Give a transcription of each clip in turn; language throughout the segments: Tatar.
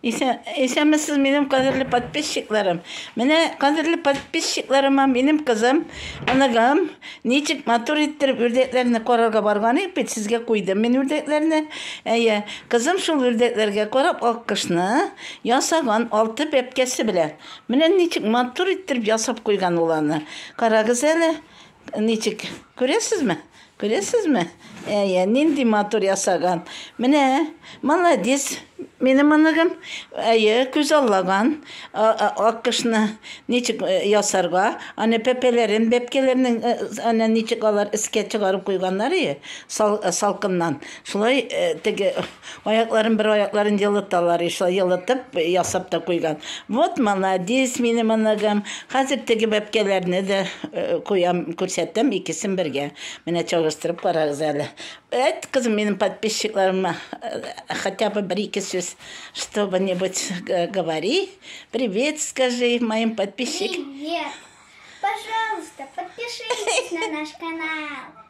Исәнмесез, минем кадерле подписчикларым. Менә кадерле подписчикларыма минем кызым, оныгым Ничек матур иттереп үрдәкләрне карарга барган идек бит, сезгә куйдым мин үрдәкләрне. Әйе, кызым шул үрдәкләргә карап аккошны ясаган алты бәбкәсе белән. Менә ничек матур иттереп ясап куйган ул аны. Карагыз әле, ничек. Күрәсезме? Күрәсезме? Әйе, нинди матур ясаган. Менә, молодец, минем оныгым. Әйе, күз аллаган аккошны ничек э, ясарга. Аны пәпәләрен, бәпкәләрнең э, аны ничек алар искә чыгарып куйганнар, әйе, салкыннан. Шулай э, теге Аякларын бер аякларын елыталар и шулай елытып ясап та куйган. Вот маладис минем оныгым. Хәзер теге бәпкәләрне дә куям, күрсәтәм икесен бергә. Менә чагыштырып карагыз әле. Әйт кызым минем подписчикларыма хотя бы бер ике сүз чтобы нибудь говори. Привет скажи моим подписчик. Привет. Пожалуйста, подпишитесь на наш канал.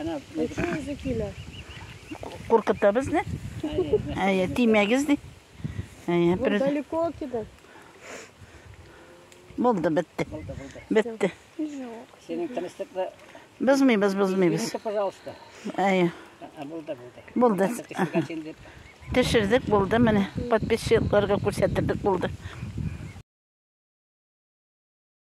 Ана, Почему закинули? Куркытта безне. Әйе, тимәгез ди. Әйе, бер далеко киде. Булды, бетте. Бетте. Синең тынычлыкны Бозмыйбыз, бозмыйбыз. Минеке, пожалуйста. Әйе. Булды, булды. Булды. Төшердек, булды, менә подписчикларга күрсәттердек, булды.